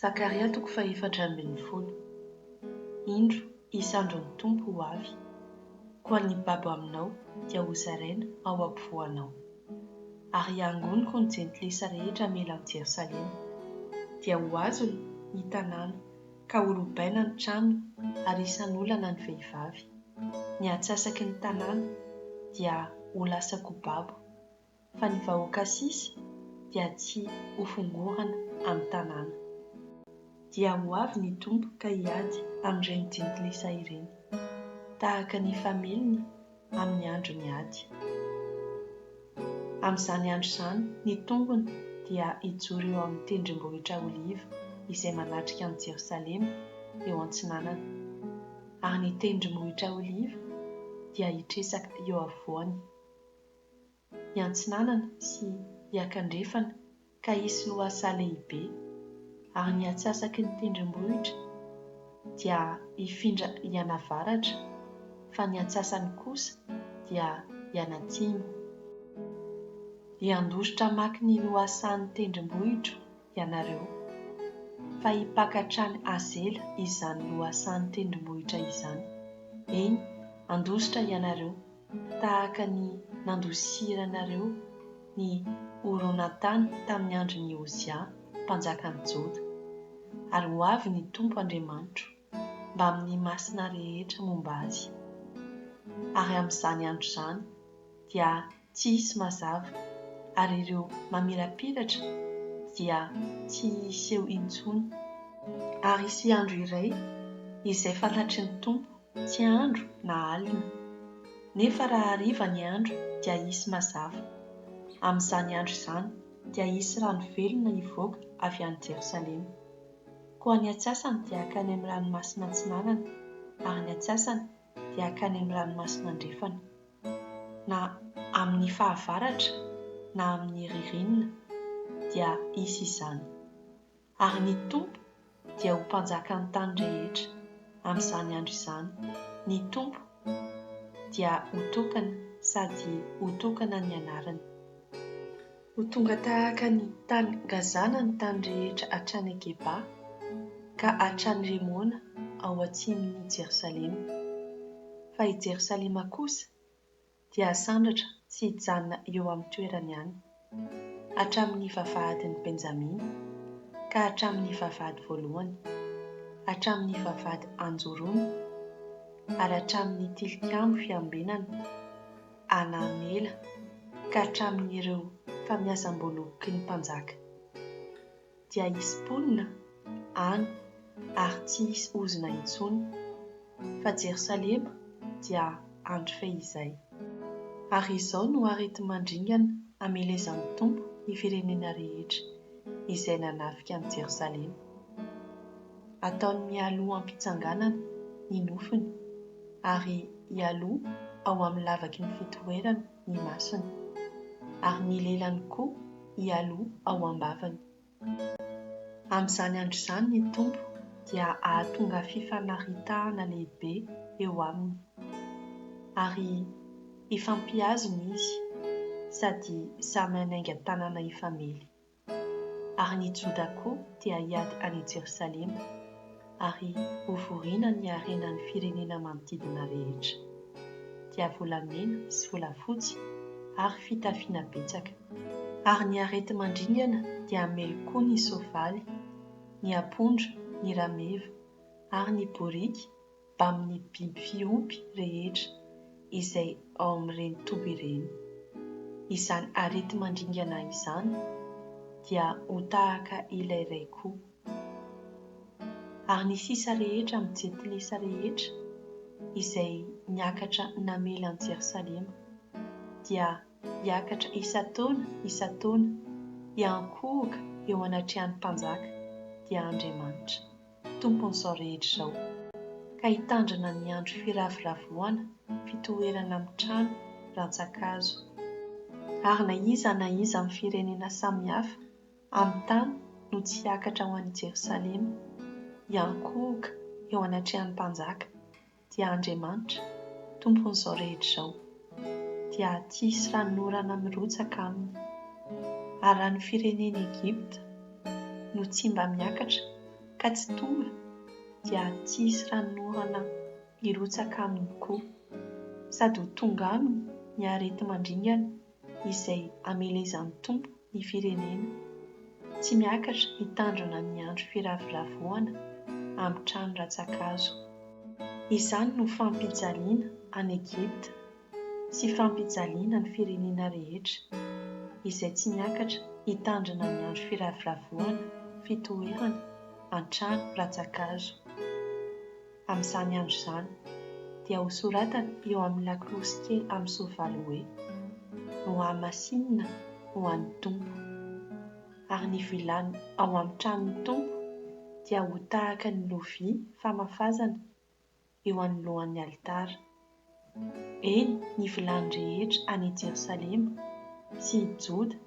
Zakaria toko fahefatra ambin'ny folo. Indro, hisy andro ny Tompo ho avy, koa ny babo aminao dia hozaraina ao ampovoanao. Ary hiangoniko ny jentilisa rehetra hamela an'i Jerosalema, dia ho azony ny tanàna, ka ho lobaina ny tranony ary hisan'olana ny vehivavy. Ny antsasaky ny tanàna dia ho lasa kobabo, fa ny vahoaka sisa dia tsy ho fongorana amin'ny tanàna. Dia ho avy ny Tompo ka hiady amin'ireny jentilisa ireny, tahaka ny fameliny amin'ny andron'ny ady. Amin'izany andro izany ny tongony dia hijoro eo amin'ny tendrombohitra Oliva izay manatrika an'i Jerosalema eo antsinanana, ary ny tendrombohitra Oliva dia hitresaka eo afovoany. hiantsinanana sy hiakandrefana ka hisy lohasaha lehibe, ary ny atsasaky ny tendrombohitra dia hifindra hianavaratra, fa ny atsasany kosa dia hianatsimo. Hiandositra hamaky ny lohasahan'ny tendrombohitro ianareo, fa hipaka hatrany Azela izany lohasahan'ny tendrombohitra izany, eny, handositra ianareo tahaka ny nandosiranareo ny horonantany tamin'ny andron'i Ozia mpanjakan'ny Joda. Ary ho avy ny Tompo Andriamanitro mbamin'ny masina rehetra momba azy, ary amin'izany andro izany dia tsy hisy mazava, ary ireo mamirapiratra dia tsy hiseho intsony. Ary hisy andro iray izay fantatry ny Tompo Tsy andro na alina. Nefa raha hariva ny andro dia hisy mazava. Amin'izany andro izany dia hisy rano velona hivoaka avy any Jerosalema. Koa ny antsasany dia hankany amin'ny ranomasina antsinanana, ary ny antsasany dia hankany amin'ny ranomasina andrefana. Na amin'ny fahavaratra na amin'ny ririnina dia hisy izany. Ary ny Tompo dia ho Mpanjakan'ny tany rehetra amin'izany andro izany. Ny Tompo dia ho tokana sady ho tokana ny anarany. Ho tonga tahaka ny tany Gazana ny tany rehetra hatrany à Geba, ka hatrany Remona ao atsimon'i Jerosalema. Fa i Jerosalema kosa dia asandratra tsy hijanona eo amin'ny toerany any, hatramin'ny vavahadin'i Benjamina, ka hatramin'ny vavahady voalohany, hatramin'ny vavahady anjorony, ary hatramin'ny tilikambo fiambenana Hanamela, ka hatramin'ireo famiasam-boaloboky ny mpanjaka. dia hisy mponina any ary tsy hisy ozona intsony, fa Jerosalema dia andro fehizay. Ary izao no areti-mandringana amelezan'ny Tompo ny firenena rehetra izay nanafika an'i Jerosalema. Ataony mialoha am-pitsanganana ny nofony, ary hialoha ao amin'ny lavaky ny fitoerany ny masony, ary ny lelany koa hialoha ao am-bavany. Amin'izany andro izany ny Tompo dia hahatonga fifanaritahana lehibe eo aminy, ary hifampiazona izy sady samy hanainga tanana hifamely. ary ny Joda koa dia hiady any i Jerosalema, ary hovorina ny harena ny firenena manodidina rehetra, dia volamena sy volafotsy ary fitafiana betsaka. Ary ny areti-mandringana dia hamely koa ny soavaly, ny apondra, ny rameva, ary ny boriky, mbamin'ny biby fiompy rehetra izay ao amin'ireny toby ireny. Izany areti-mandringana izany dia ho tahaka ilay iray koa. Ary ny sisa rehetra amin'ny jentilisa rehetra izay niakatra namela an'i Jerosalema dia hiakatra isan-taona isan-taona hiankohoka eo anatrehan'ny mpanjaka, dia Andriamanitra. Tompon'izao rehetra izao, ka hitandrina ny andro firavoravoana fitoerana amin'ny trano rantsan-kazo. Ary na iza na iza amin'ny firenena samihafa amin'ny tany no tsy hiakatra ho any Jerosalema, hiankohoka eo anatrehan'ny mpanjaka, dia Andriamanitra, Tompon'izao rehetra izao, dia tsy hisy ranon'orana mirotsaka aminy. Ary raha ny firenen'i Egypta no tsy mba miakatra ka tsy tonga, dia tsy hisy ranon'orana hirotsaka aminy koa, sady ho tonga aminy ny areti-mandringana izay amelezan'ny Tompo ny firenena. Tsy miakatra hitandrina ny andro firavoravoana amin'ny trano rantsa-kazo. Izany no fampijaliana an'i Egypta sy fampijaliana ny firenena rehetra izay tsy miakatra hitandrina ny andro firavoravoana fitoherana an-trano rantsa-kazo. Amin'izany andro izany, dia hosoratana eo amin'ny lakolosy kely amin'ny soavaly hoe, Nohamasinina ho an'ny Tompo. Ary ny vilany ao amin'ny tranon'ny Tompo dia ho tahaka ny lovia famafazana eo anoloan'ny alitara. Eny, ny vilany rehetra any Jerosalema sy i Joda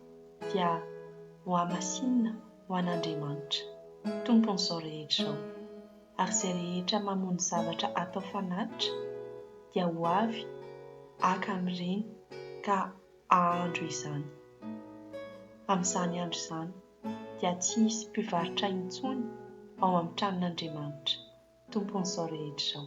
dia hohamasinina ho an'Andriamanitra, Tompon'izao rehetra izao. Ary izay rehetra mamono zavatra atao fanatitra dia ho avy haka amin'ireny ka hahandro izany, amin'izany andro izany. dia tsy hisy mpivarotra intsony ao amin'ny tranon'Andriamanitra, Tompon'izao rehetra izao.